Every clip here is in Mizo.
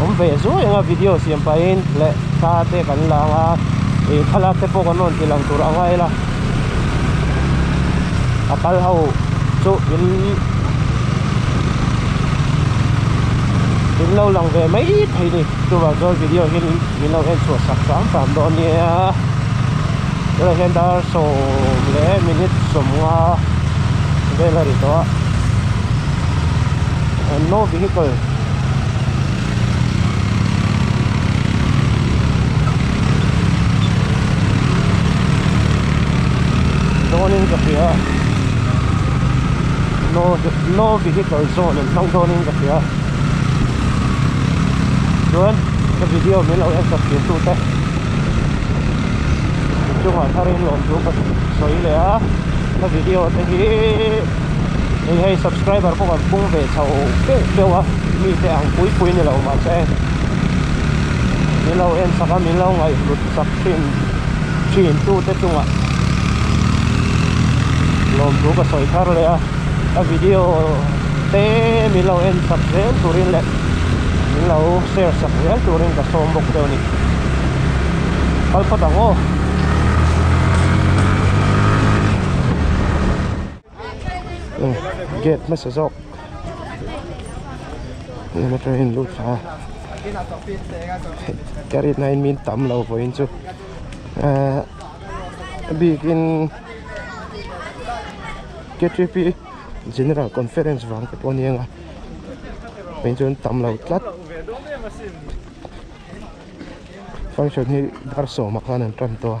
awm ve zuai anga video siam pahin leh thla te kan la anga ih thlalak te pawh kan rawn ti lang tur anga ila a kal ho chu in in lo lang ve mai thei a ni chuvang chuan video hi min lo en chhuah sak sak sak dawn a nia tunah hian dar sawm leh minute sawmnga vel a ni tawh a no vehicle dawn in ka hria a no no vehicle zone an hmang dawn in ka hria a chuan ka video min lo en chhawp tih tu te inchung ah thar in lawm chu ka sawi leh a ka video te hi-- eng hei subscriber pawh kan pung ve chho beuh beuh a mite ang pui pui ni lo mahse min lo en sak a min lo ngaihhlut sak thin thin tu te chungah lawmthu ka sawi thar leh a a video te min lo en sak zel turin leh min lo share sak zel turin ka sawm bawk teuh a ni kal phawt ang aw. oh gate hmasa zawk hei motor hi an lut thla a ka rit nain min tam lo vawiin chu ahh bikin K three P general conference vang te pawh a ni ang a vei chu an tam lo tlat function hi darhsawmah khan an tan tawh a.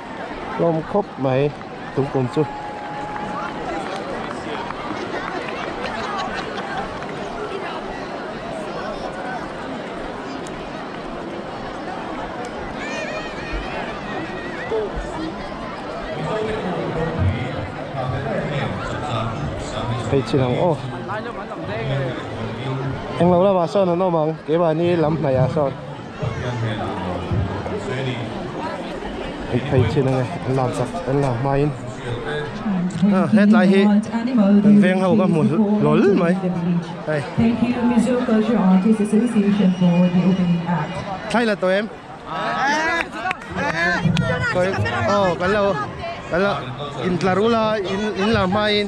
hlawm khawp mai tupum chu hei chin ang aw englo lamah sawn an awm ang kei vani lam hnaihah sawn. Pathian hmel an lo bu lo ang se ni. Hei phei chin ange an lam chak an lam hma in a hetlai hi kan veng ho ka hmu lawlh mai hei thlai la tawh em sawi aw kan lo kan lo intlar ula in lam hma in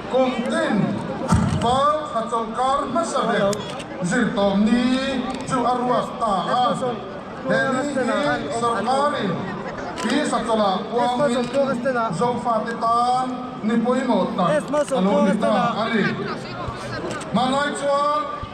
Kum tin, Fal thla chawlhkar hmasa ber zirtawm ni chu a ruak ta a. He ni hi sawrkarin Pisa chawlah puangin zofate tan ni pawimawh tak a lo ni ta a ni. Hmanlai chuan.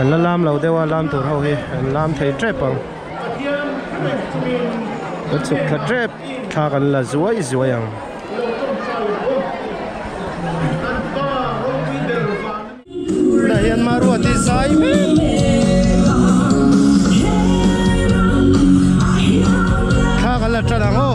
An la lam lo deuh a, lam tur ho hi an lam thei tep ang. Ka chhuk thla tep thla kan la zuai zuai ang. Tunah hian Maruat hi zai mek a ni. Thla kan la tan ang aw.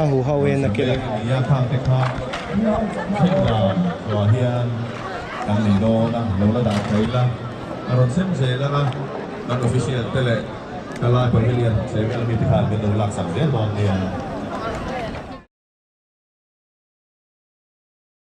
A hu hau e na kil a. Nia thak te kha hrilh dan tlua hian kan nei dawn a, lo la dan thei la. Ka rawn sem zel anga kan official te leh ka lai pavilion chei vel mite khan min lo laksak zel dawn nia.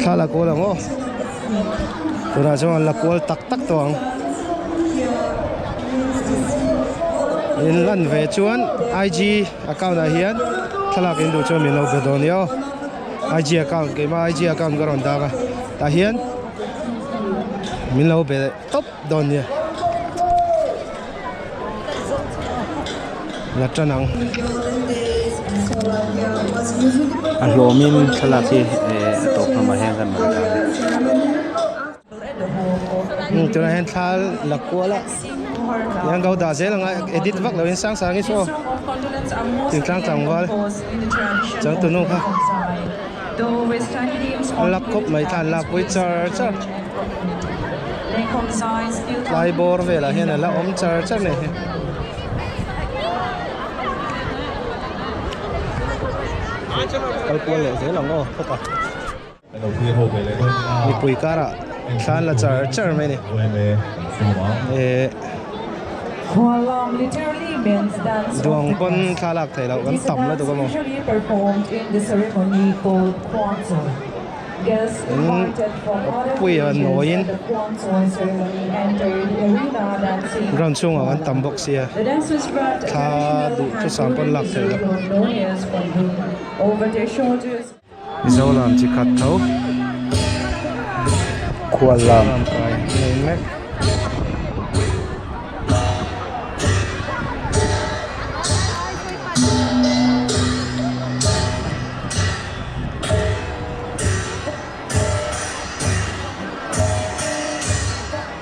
Thla la kual ang aw. Tunah chuan la kual tak tak tawh ang. In lan ve chuan IG account ah hian thlalak in duh chuan min lo be dawn nia aw. IG account keimah IG account ka rawn dang a tah hian min lo be. tawp dawn nia Latan ang a hlawmin thlalak hi a tawp hlawmah hian kan rawn dah ania tunah hian thla lak kual a eng ang ka lo dah zel ang a edit vak lo in sang sangin saw tintlang tlangval changtunu kha. A lak khawp mai thla an lak pui char char. Tlai bawr velah hian a la awm char char mai hi. Kal kual leh zel ang aw khawpa. Mipui karah thla an la char char mai a ni. Ehh. Duang pawn thla lak thei loh kan tam lutuk emaw in puia an nawiin ground chhungah kan tam bawk sia thla duh thusam pawn lak thei loh. Mizoram chi khat tho khual lam kai ngei mek.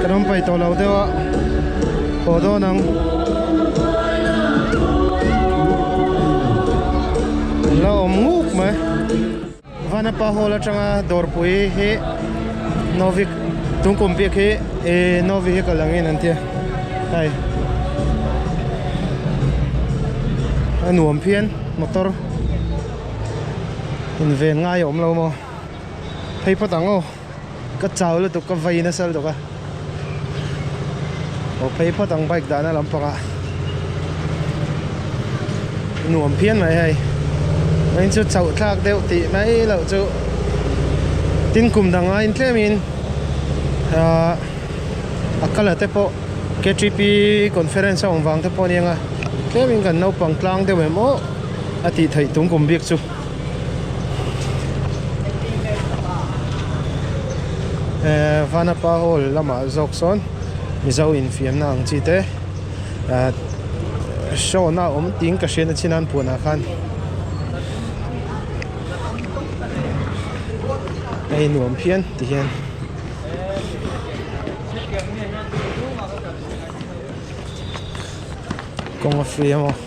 Kan awm paih tawh lo deuh a, haw dawn ang. Kan la awm nguk mai. Vanapa Hall atanga dawrpui hi no vehicle, tungkum bik hi ih no vehicle angin an ti a. Hei a nuam phian motor. inven ngai a awm lo maw phei phawt ang aw ka chau lutuk ka vai nasa lutuk a aw phei phawt ang bike dahna lam panga nuam phian mai hei main chu chauh thlak deuh tih mai lo chu tin kum dang a in tlem in ah, a kala te pawh KTP conference a awm vang te pawh aniang a tlem in kan naupang tlang deuh em awh a tih theih tum kum bik chu ehh vanapa hall lamah zawk sawn mizo infiamna ang chi te ehh show na awm tîng ka hriat na chin a an puan ah khan a in nuam phian ti hian kawng a free a maw.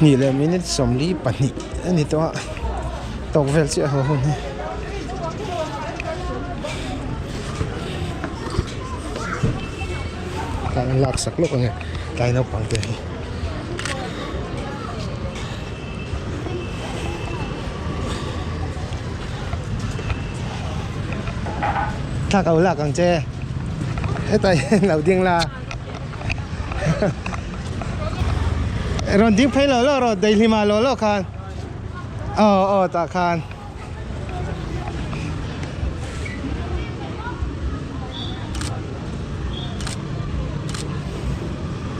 hnih leh minute sawmli pahnih a ni tawh a tawk vel chiah ho hun hi. Tlai an lak sak lawk a nia tlai naupang te hi. Thlak au lak ang che. Hetlai hi an lo ding la. Rawn ding phei lo lo rawh, daihlim ah lo lo khan. Aw aw tah khan.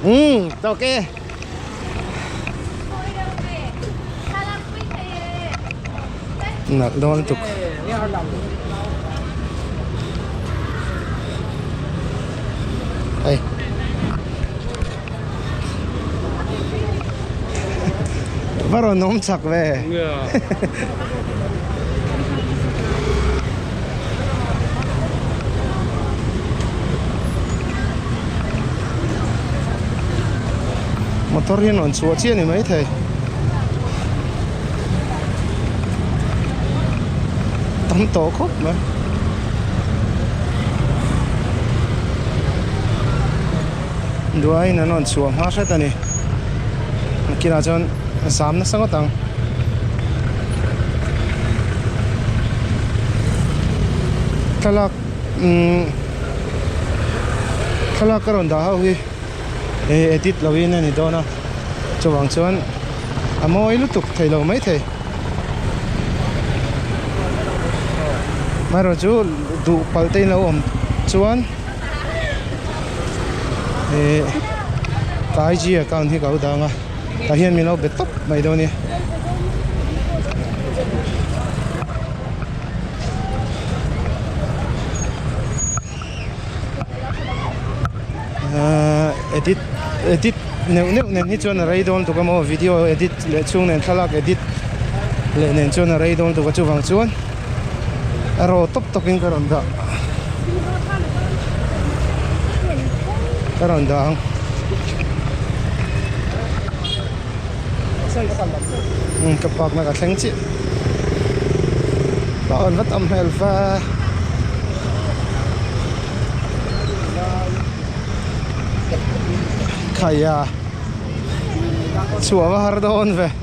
Umm, tawk e. nalh nual tuk va rawn awm chak ve. motor hi an rawn chhuah chiah ni maithei tam tawh khawp mai. duaiin an rawn chhuah nghal hret a ni a kinah chuan sam nasa ngawt ang thlalak umm thlalak ka rawn dah ho hi hei edit loin a ni dawn a chuvang chuan a mawi lutuk thei lo mai thei amaherawhchu duh palh te in lo awm chuan-- ka IG account hi ka lo dang a tah hian min lo be tawp mai dawn nia edit edit neuh neuh nen hi chuan a rei dawn tuk a maw video edit leh chhung nen thlalak edit leh nen chuan a rei dawn tuk a chuvang chuan a ro tawp tawp in ka rawn dah ka rawn dah ang um ka park na ka thleng chiah ka awn vat awm hmel fa khaia chhuava har dawn ve.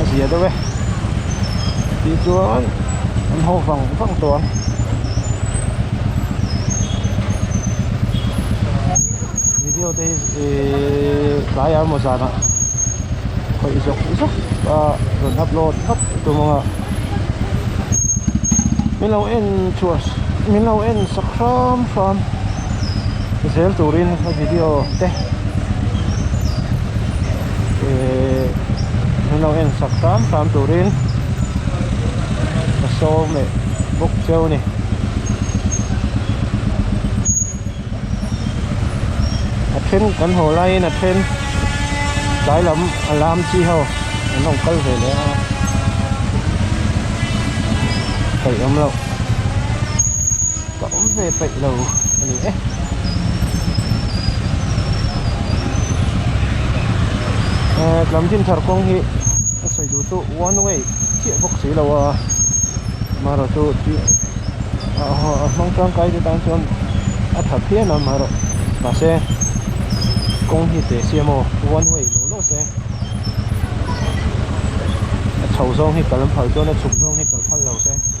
a zia deuh e tih chuan an ho vang vang tawh ang video te hi ihh tlai ah emaw zan ah khawih zawk zawk a rawn upload vat tum ang a min lo en chhuah min lo en sak hram hram. zel turin a video te ihh min lo en sak tlam tlam turin ka show meh bawk che a ni. A then kan haw laiin a then tlai lam a lam chi ho an rawn kal ve leh a kaih awm loh. ka awm ve paih lo a ni e. Ehh lam din thar kawng hi a sawi duh tu one way chiah bawk si lo a, amaherawh chu tui a a hmang tangkai te tan chuan a tha phian a amaherawh mahse kawng hi teh si a maw one way lo lo se a chho zawng hi kal phal chuan a chhuk zawng hi kal phal lo se.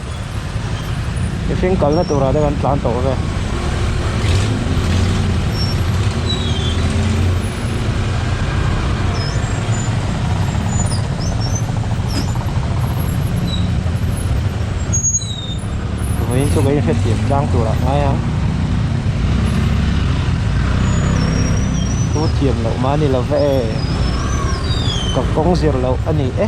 Mihring kalna turah te kan tlan tawh ve. Vawin chu kan hrettir tlang turah ngai ang. Thu thiam loh mahni lova e. Ka kawng zir loh a ni e.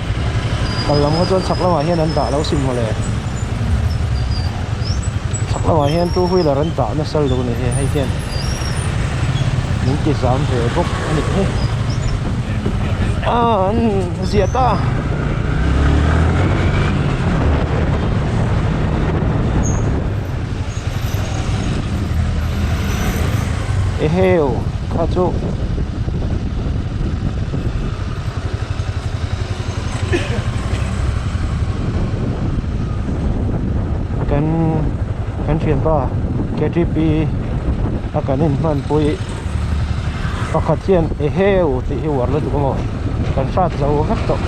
Kallam kha chuan chhak lamah hian an dah lo si mawle. Chhak lamah hian two wheeler an dah nasa lo ni e, hei hian min ti zam ve bawk a nih hi. Aaa an ziah ta a. Eheu kha chu. kan kan thianpa ktp a kan in hman pawhi pakhat hian eheu tih hi uar la duh amaw kan hrat zo vek tawh.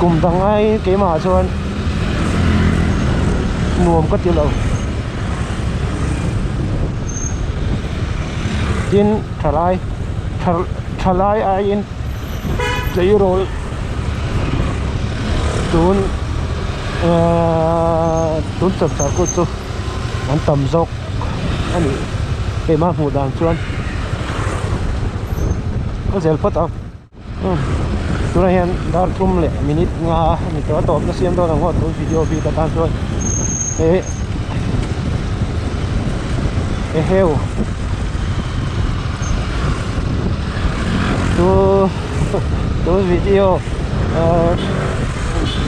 kum dang ai keimah chuan nuam ka tilo tin thalai thalai aiin tleirawl tun tun chawp chhuah kut chu an tam zawk a ni keimah hmuh dan chuan ka zel phawt a. Tunah hian dar tum leh minute nga a ni tawh a, tawpna siam dawn ang ho chu video bik atan chuan he eheu chu chu video aaa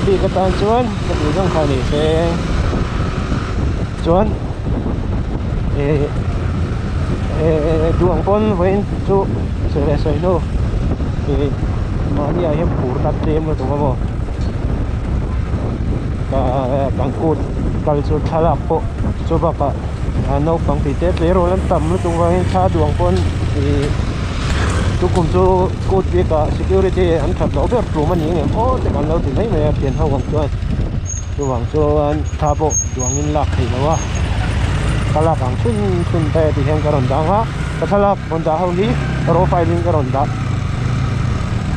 bik atan chuan ka tih zawng kha ni seng chuan-- eh eh duang pawn vawiin chu sawi leh sawi hlu ih mahni ah hian phur na tlem lutuk ka mu ka kan kut kal chu thlalak pawh chu bakah naupang tih te tleirawl an tam lutuk avangin thla duang pawn ih tukum chu kut bikah security an that loh ber tlum a nih ngei maw tak an lo ti mai mai a thianho ang chuan. chuvang chuan thla pawh duangin lak theih loh a ka lak ang chhun chhun te tih hian ka rawn dang a ka thlalak rawn dah ho hi profile in ka rawn dah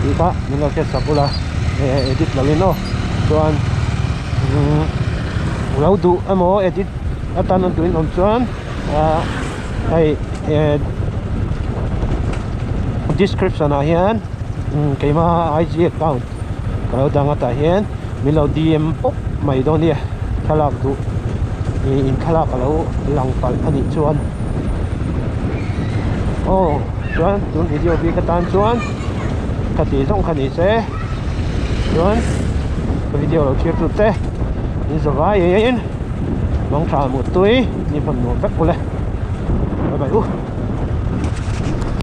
tih kha min lo hriat sak bula edit lo in aw chuan lo duh emaw edit atan a duh in awm chuan ah hei eh description ah hian keima ig account -- ka lo dang atah hian min lo dm pawp mai dawn nia thlalak duh ihh in thlalak a lo lang palh a nih chuan aw chuan tun video bik atan chuan ka tih zawng kha ni se chuan ka video lo chhir tu te min zava in mang tha mut tui ni hman nuam vek uleh bye bye u.